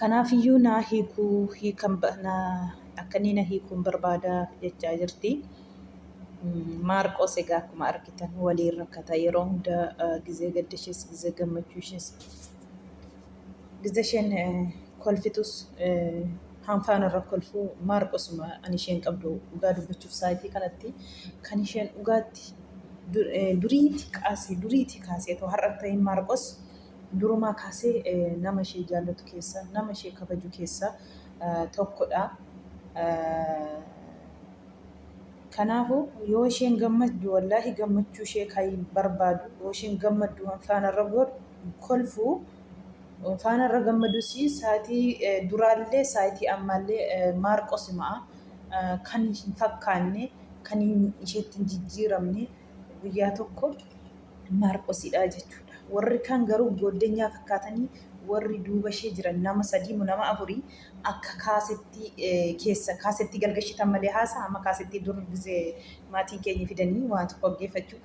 Kanaaf iyyuu naa hiikuu hiikan akka inni na hiikuun barbaada jechaa jirti. Maarqoos egaa akkuma argitan waliin rakkata yeroo hunda gizee gadda ishees gizee gammachuu ishees gizee isheen kolfitus hanfaan irra kolfuu maarqosuma ani isheen qabdu dhugaa dubbachuuf saayitii kanatti kan isheen dhugaatti duriitii kaasee duriitii kaasee too har'a ta'in maarqos durumaa kaasee nama ishee jaallatu keessaa, nama ishee kabaju keessaa tokkodha. Kanaafuu yoo isheen gammaddu wallaahi gammachuu ishee kan barbaadu yoo isheen gammaddu waan faanarra godhu kolfu faanarra gammadus saatii duraallee saatii ammaallee maarqosimaa kan hin fakkaanne kan isheetti hin jijjiiramne guyyaa tokko Maarqosidha jechuudha. Warri kaan garuu gooddenyaa fakkaatanii warri duuba ishee jiran nama sadii moo nama afurii akka kaasettii eh, keessa kaasettii galgashitan malee haasaa amma kaasettii dur gizee maatiin keenya fidanii waa tokko dhaggeeffachuuf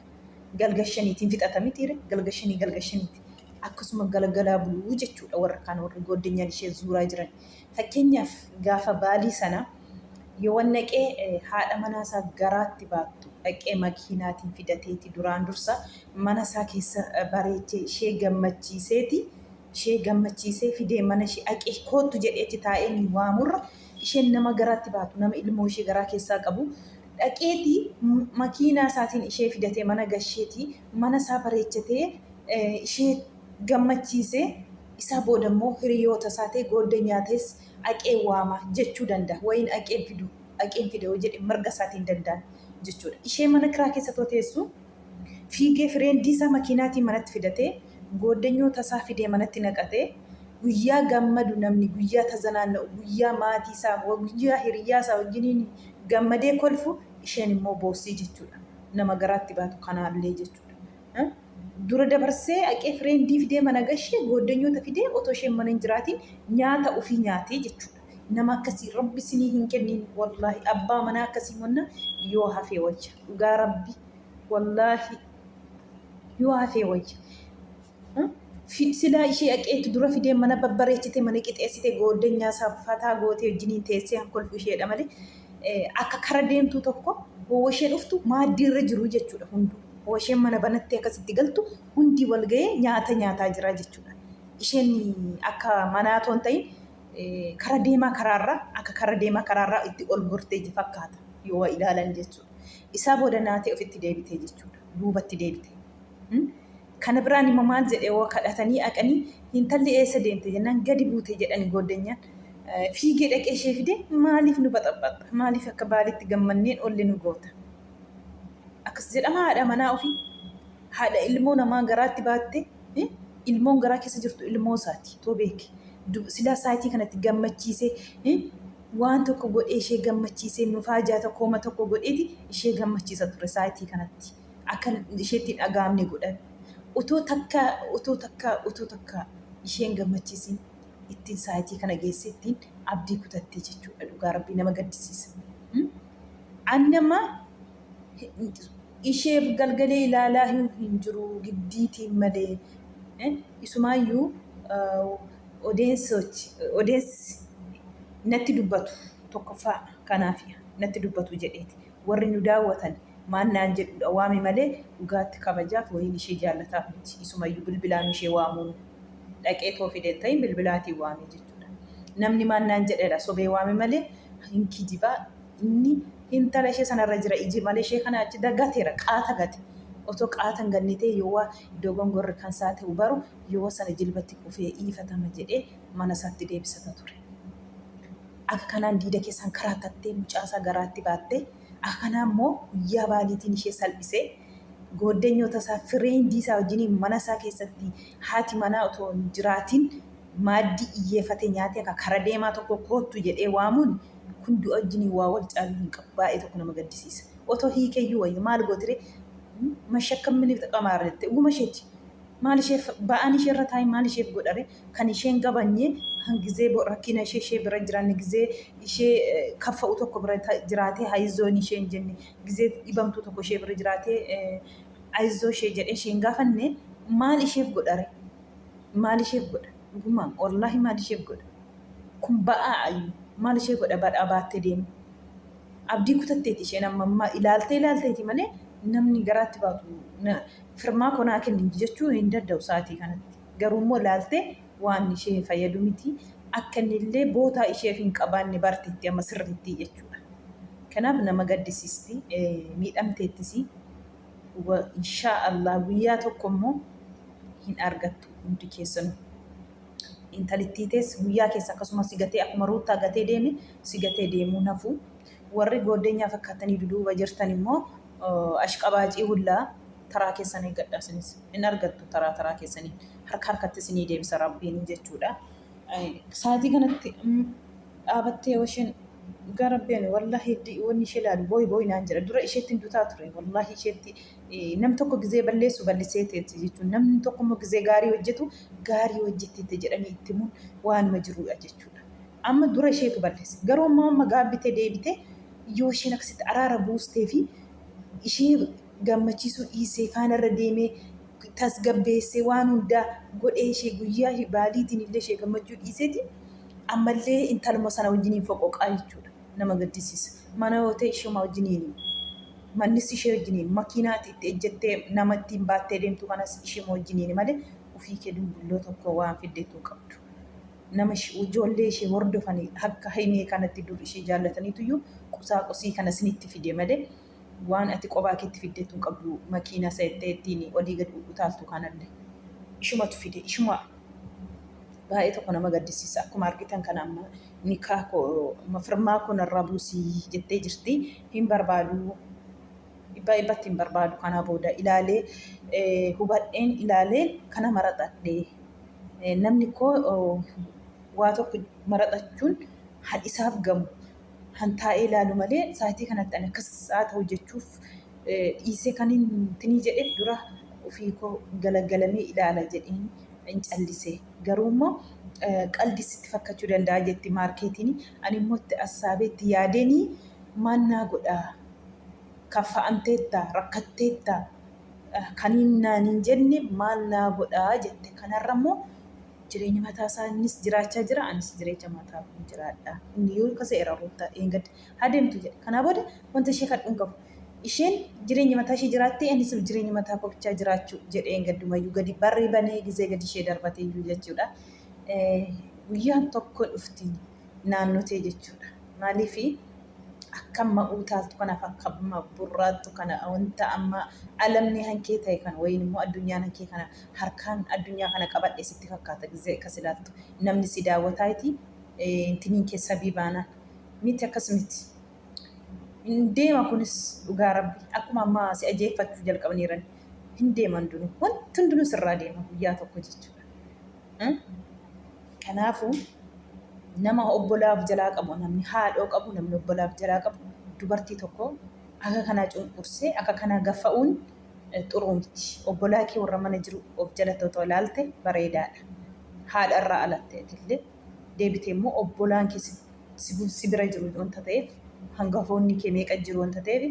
galgashaniitiin fixata mitiire galgashanii galgashaniiti akkasuma galgalaa buluu jechuudha warra kaan warri gooddenyaan ishee zuuraa jiran. Fakkeenyaaf gaafa baalii sana Yowannaqee haadha manaa isaa garaatti baattu dhaqee makiinaatiin fidateeti duraan dursa mana isaa keessa bareechee ishee gammachiiseeti ishee gammachiisee fidee mana ishee aqee koottu jedhee achi taa'ee inni waamurra isheen nama garaatti baatu nama ilmoo ishee garaa keessaa qabu dhaqeeti makiinaa isaatiin ishee fidatee mana gasheeti mana isaa bareechatee ishee gammachiisee isaa boodammoo hiriyoota isaatee goodda nyaatees dhaqee waama jechuu danda'a. Wayin dhaqeen fidu, dhaqeen fida yoo jedhe mirga isaatiin danda'an jechuudha. Ishee mana kiraa keessa too teessu fiigee fireendii isaa makiinaatiin manatti fidatee gooddanyoota isaa fidee manatti naqatee guyyaa gammadu namni guyyaa tazanaanna'u guyyaa maatii isaa guyyaa hiriyyaa isaa wajjiniin gammadee kolfu isheen immoo boossii jechuudha. Nama garaatti baatu kanaallee jechuudha. Dura dabarsee aqee fireendii fidee mana gashee gooddanyoota fidee otoo isheen mana hin jiraatiin nyaata ufii nyaatee jechuudha. Nama akkasii rabbi isinii hin kenniin wallaahi abbaa manaa akkasii monna yoo hafee wayya dhugaa rabbi wallaahi yoo hafee wayya. Silaa ishee aqeetu dura fidee mana babbareechitee mana qixeessitee gooddanyaa isaa fataa gootee wajjiniin teessee haa kolfu isheedha malee akka kara deemtuu tokko hoo isheen dhuftu maaddii irra jiruu jechuudha hunduu. Washeen mana banattee akka sitti galtu hundi wal ga'ee nyaata nyaataa jira jechuudha. Isheen akka manaa otoo hin ta'in kara deemaa karaarra akka kara deemaa karaarra itti ol gortee ji fakkaata yoo waa ilaalan jechuudha. Isaa booda naatee ofitti deebitee jechuudha. Duubatti deebite. Kana biraan immoo maal jedhee waa kadhatanii aqanii hintalli eessa deemte jennaan gadi buute jedhani gooddanyaan. Fiigee dhaqee ishee fide maaliif nu baxaxaxxa maaliif akka baalitti gammanneen olle nu goota. akkas jedhama haadha manaa ofii haadha ilmoo namaa garaatti baatte eh, ilmoon garaa keessa jirtu ilmoo isaati too beeki Du- silaa saayitii kanatti gammachiisee eh, waan tokko godhee ishee gammachiisee nufaa ijaa tokkooma tokko godheeti ishee gammachiisa ture saayitii kanatti akka isheetti hin dhaga'amne godhan utuu takka utuu takka utuu takka isheen gammachiisin ittiin saayitii kana geesse ittiin abdii kutattee jechuudha dhugaa rabbii nama gaddisiisa. Hmm? Anni amma isheef galgalee ilaalaayuu hin jiru giddiitiin malee. Isumaayyuu odeensi natti dubbatu tokkoffaa kanaaf natti dubbatu jedheeti. Warri nu daawwatan maal naan jedhuudha waame malee dhugaatti kabajaaf wayiin ishee jaallataaf miti. Isumayyuu bilbilaan ishee waamuun dhaqeetoo fide hin ta'in bilbilaatiin waame jechuudha. Namni maal naan jedheedha sobee waame malee hin kijiba inni hintala ishee sana irra jira iji malee ishee kana achi dagateera qaata gate otoo qaata hin ganne ta'e yoo waa dogongorri kan isaa ta'u baru yoo sana jilbatti kufee dhiifatama jedhee mana isaatti deebisata ture akka kanaan diida keessaan karaa tattee mucaa isaa garaatti baattee akka kanaa immoo guyyaa baaliitiin ishee salphisee gooddenyoota isaa firee hindii isaa wajjiniin mana isaa keessatti haati manaa otoo hin jiraatiin maaddii iyyeefate nyaatee ka kara deemaa tokko koottu jedhee waamuun kun du'a wajjiniin waa wal caaluu hin qabu. Baay'ee tokko nama gaddisiisa. Otoo hiikeyyuu wayya. Maal gootire? Mashakkan mini xaqamaara jette. Dhuguma isheeti. Maal isheef ba'aan ishee irra taa'e maal isheef godhare? Kan isheen gabanye hangizee bo rakkina ishee ishee bira hin jiraanne gizee ishee kaffa'u tokko bira jiraatee hayizoon ishee hin jenne gizee dhibamtuu tokko ishee bira jiraatee ayizoo ishee jedhee ishee hin gaafanne maal isheef godhare? maal isheef godha dhugumaan wallaahi maal isheef godha kun ba'aa ayyu maal ishee godha badhaa baattee deemu abdii kutatteeti isheen amma ammaa ilaaltee ilaalteeti malee namni garaatti baatu na- firmaa koo naa kenni jechuu hin danda'u sa'aatii kanatti garuu immoo ilaaltee waan ishee fayyadu miti akka inni illee bootaa isheef hin qabaanne barteetti amma sirriitti jechuudha kanaaf nama gaddisiisti eh, miidhamteettisii wa inshaa Allah guyyaa tokko immoo hin argattu hundi keessanu intalittii tees guyyaa keessa akkasuma si gatee akkuma ruuttaa gatee deeme si gatee deemuu nafu warri gooddenyaa fakkaattanii duduuba jirtan immoo ashqabaacii hullaa taraa keessan eeggadhaa sinis hin argattu taraa taraa keessaniin harka harkatti isinii deebisa rabbiin jechuudha Sa'aatii kanatti dhaabattee yoo isheen gara beenu wallaahi wanni ishee ilaalu booyi booyi naan jedha. Dura isheetti hin dutaa ture wallaahi isheetti nam tokko gizee balleessu ballisee teetti jechuun namni tokko immoo gizee gaarii hojjetu gaarii hojjetteetti jedhanii itti himuun waanuma jirudha jechuudha. Amma dura isheetu balleessa. Garuu amma amma gaabbitee deebitee yoo isheen akkasitti araara buustee fi ishee gammachiisuu dhiisee faana irra deemee tasgabbeessee waan hundaa godhee ishee guyyaa ishee baaliitiin illee ishee gammachuu dhiiseeti ammallee intaluma sana wajjiniin foqoqaa jechuudha. Nama gaddisiisa. Mana yoo ta'e ishuma wajjiniin mannis ishee wajjiniin makiinaati itti ejjettee nama ittiin baattee deemtu kanas ishuma wajjiniin malee ofii kee dumbulloo tokko waan fiddeetu hin qabdu. Nama ish- ijoollee ishee hordofanii akka haimee kanatti dur ishee jaallataniitu iyyuu qusaa qusii kana isinitti fide malee waan ati qobaa keetti fiddeettu hin qabdu makiina seettee ittiin olii gad utaaltu kanalle ishumatu fide ishuma baay'ee tokko nama gaddisiisa akkuma argitan kana amma nikaa koo amma firmaa koo narraa buusi jettee jirti hin barbaadu dhibbaa dhibbatti hin barbaadu kanaa booda ilaalee eh, hubadheen ilaalee kana maraxadhe Eh, namni koo oh, waa tokko maraxachuun han isaaf gamu kan taa'ee ilaalu malee saayitii kanatti ani akkas haa ta'u jechuuf dhiisee kan hin tinii jedheef dura ofii koo galagalamee ilaala jedheen hin callise. Garuu immoo qaldi sitti fakkachuu danda'a jetti maarkeetiin ani immoo itti assaabee itti yaadeenii maal naa godhaa kaffa'amteetta rakkatteetta Kaniin naan hin jenne maal naa godha jette. Kanarra immoo jireenya mataa isaa innis jiraachaa jira anis jireecha mataa koon jiraadha. Inni yoo kasa'eera Ruuttaa dheengadda. Haa deemtu jedhe. Kanaa booda wanta ishee kadhu hin qabu. Isheen jireenya mataa ishee jiraattee anis jireenya mataa koo bichaa jiraachuu jedheen gaddumayyuu gadi barri banee gizee gadi ishee darbateeyyuu jechuudha. Guyyaan tokko dhufti. naannotee jechuudha. Maaliif akka amma uutaaltu kanaaf akka amma burraattu kana wanta amma alamni hankee ta'e kana wayiin immoo addunyaan hankee kana harkaan addunyaa kana qabadhe sitti fakkaata gizee akkas ilaaltu namni si daawwataa iti intiniin kee sabii baanaan miti akkas miti. Hin deema kunis dhugaa rabbi akkuma amma si ajeeffachuu jalqabaniiran hin deeman dunu wanti hundinuu sirraa deema guyyaa tokko jechuudha. Kanaafuu nama obbolaa of jalaa qabu namni haadhoo qabu namni obbolaa of jalaa qabu dubartii tokko akka kanaa cunqursee akka kanaa gaffa'uun xuruu miti. Obbolaa kee warra mana jiru of jalatti otoo ilaalte bareedaadha. Haadha irraa alattee atillee deebitee immoo obbolaan kee si bira jiru wanta ta'eef hangafoonni kee meeqa jiru wanta ta'eef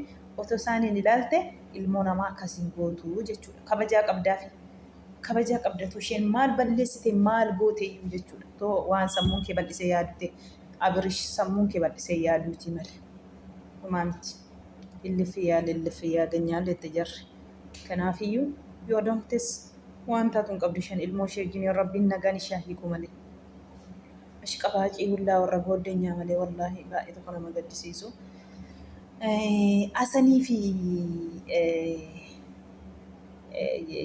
otoo isaaniin ilaalte ilmoo namaa akkas hin gootu jechuudha. Kabajaa qabdaafi. kabajaa qabda too isheen maal balleessite maal goote iyyuu jechuudha too waan sammuun kee bal'isee yaadute abirish sammuun kee bal'isee yaaduutii male homaa miti illiffi yaa lilliffi yaa ganyaa jette jarri kanaaf iyyuu yoo donktes waan taatu hin qabdu isheen ilmoo ishee wajjin rabbiin nagaan ishaa hiikuu male ashqabaacii hullaa warra booddenyaa malee wallaahi baay'ee tokko nama gaddisiisu asanii fi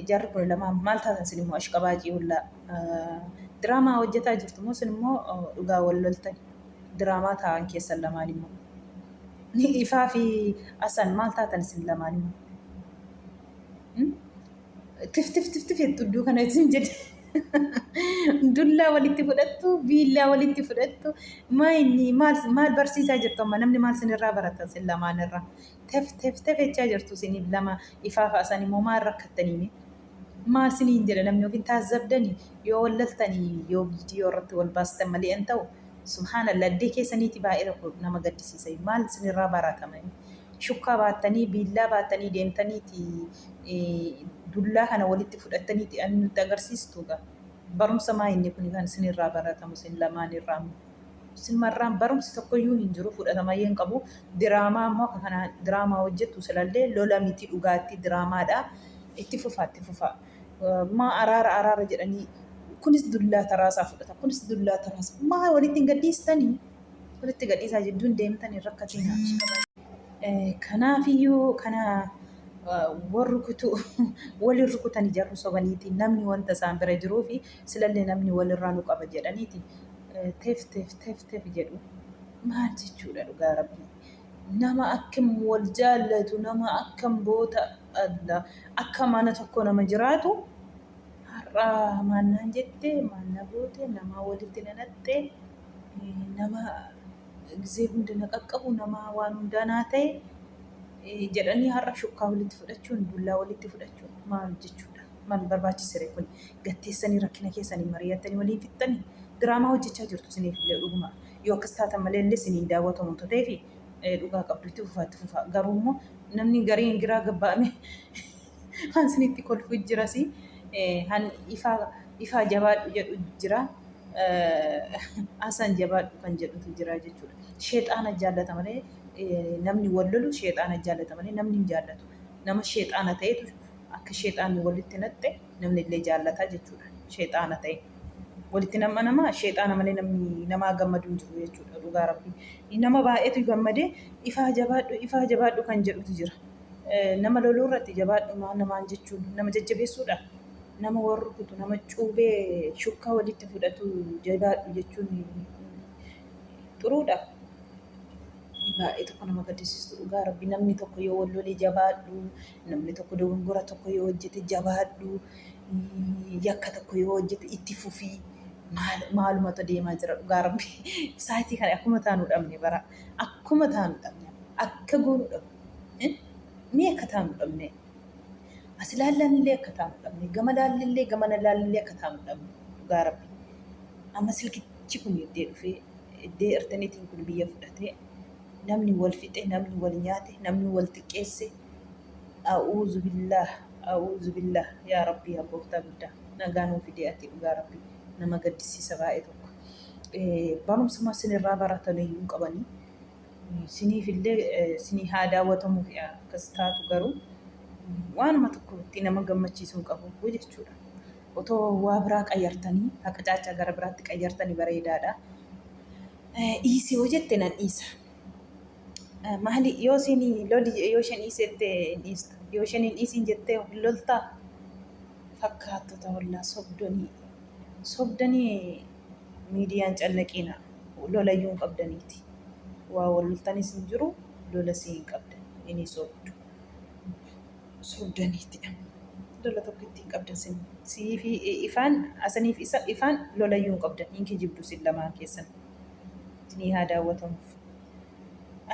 jarri kun lamaan maal taatan sin immoo ashqabaacii hullaa diraamaa hojjetaa jirtu immoo sin immoo dhugaa wal loltan diraamaa taa'an keessan lamaan immoo ni ifaa fi asan maal taatan sin lamaan immoo tif tif tif tif jettu iddoo kana isin jedhe dullaa walitti fudhattu biillaa walitti fudhattu maayinni maal maal barsiisaa jirtu amma namni maal sinirraa baratan sin lamaan irraa tef tef tef jechaa jirtu isiniif lama ifaa fa'a san immoo maal rakkattanii mee maal isiniin jedha namni yookiin taazzabdanii yoo wal laltanii yoo viidiyoo irratti wal baastan malee an ta'u subhaanallah addee keessaniiti baay'ee tokko nama gaddisiisa maal isinirraa baraatamanii shukkaa baattanii biillaa baattanii deemtaniiti dullaa kana walitti fudhattaniiti an nutti agarsiistuuga barumsa maa inni kun kan isinirraa baratamu isin lamaan irraa Simmarraan barumsi tokkoyyuu hin jiru fudhatamayyuu hin qabu. Diraamaa immoo akka kanaa diraamaa hojjettu silallee lola miti dhugaatti diraamaadha. Itti fufaa itti fufaa. Maa araara araara jedhanii kunis dullaa taraasaa fudhata kunis dullaa taraasa maa walitti hin gadhiistanii walitti gadhiisaa jidduun deemtan hin rakkatinaa. Kanaafiyyuu kana wal rukutu waliin rukutanii jarri sobaniitiin namni wanta isaan bira jiruufi silallee namni walirraa nu qaba jedhaniiti tef tef tef tef jedhu maal jechuudha dhugaa rabbii nama akkam wal jaallatu nama akkam boota alla akka mana tokko nama jiraatu har'aa maal naan jette maal na goote namaa walitti na naqxe nama gizee hunda na qaqqabu nama waan hundaa naa ta'e jedhanii har'a shukkaa walitti fudhachuun dullaa walitti fudhachuun maal jechuudha. Mal barbaachisere kuni? Gad teessanii rakkina keessani marii'attanii waliin fixxani? Diraamaa hojjechaa jirtu isiniifillee dhuguma yoo akkas taatan malee illee isin hin daawwatamu utuu ta'eefi dhugaa qabdu itti fufaa itti fufaa garuu immoo namni gariin giraa gabba'ame han isinitti kolfu jirasi han ifaa ifaa jabaadhu jedhu jira Hasan jabaadhu kan jedhutu jira jechuudha. Sheexaana jaallata malee namni wal lolu sheexaana jaallata malee namni hin jaallatu. Nama sheexaana ta'etu Akka sheexaanni walitti naqxe namni illee jaallata jechuudha. Sheexaana ta'e. Walitti nama nama sheexaana malee namni namaa gammadu hin jiru jechuudha dhugaa rabbi. Nama baay'eetu gammadee ifaa jabaadhu ifaa jabaadhu kan jedhutu jira. Nama loluu irratti jabaadhu maa namaan jechuun nama jajjabeessuudha. Nama wal rukutu nama cuubee shukkaa walitti fudhatu jabaadhu jechuun xuruudha. Baay'ee tokko nama gaddisiistu dhugaa rabbi namni tokko yoo wal lolee jabaadhu Namni tokko dogongora tokko yoo hojjete jabaadhu, yakka tokko yoo hojjete itti fufi. Maal maalumatu deemaa jira dhugaa rabbi. Saayitii kana akkuma taanu dhabne bara. Akkuma taanu dhabne. Akka goonu dhabne. Mee akka taanu dhabne. As ilaallanillee akka taanu dhabne. Gama laallillee gamana laallillee akka taanu dhabne. Dhugaa rabbi. Amma silkichi kun iddee dhufee iddee ertaniitiin kun biyya fudhatee namni wal fixe, namni wal nyaate, namni wal xiqqeesse A'uuzubillaah A'uuzubillaah yaa rabbii yaa gooftaa guddaa nagaa nuu fidee ati dhugaa rabbii nama gaddisiisa baay'ee tokko barumsuma sinirraa baratanii hin qabanii siniif illee sinii haa daawwatamuuf akkas taatu garuu waanuma tokko itti nama gammachiisu hin qabu jechuudha. Otoo waa biraa qayyartanii haqa caachaa gara biraatti qayyartanii bareedaadha. Dhiisii hoo jette nan dhiisa. Maali yoo isin loli yoo isheen dhiisette dhiistu yoo isheen hin dhiisin jettee of loltaa fakkaattota wallaa sobdanii sobdanii miidiyaan cannaqiina lolayyuu hin qabdaniiti waa wal loltanis hin jiru lolas hin qabdan inni sobdu sobdaniiti lola tokko ittiin qabdan sin siifi ifaan asaniif isa ifaan lolayyuu hin qabdan hin kijibdu sin lamaan keessan. isinii haa daawwatamuuf.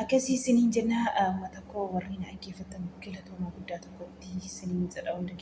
Akkasii isiniin jennaa uummata koo warri na dhaggeeffattan galatoomaa guddaa tokkotti isiniin jedha hunda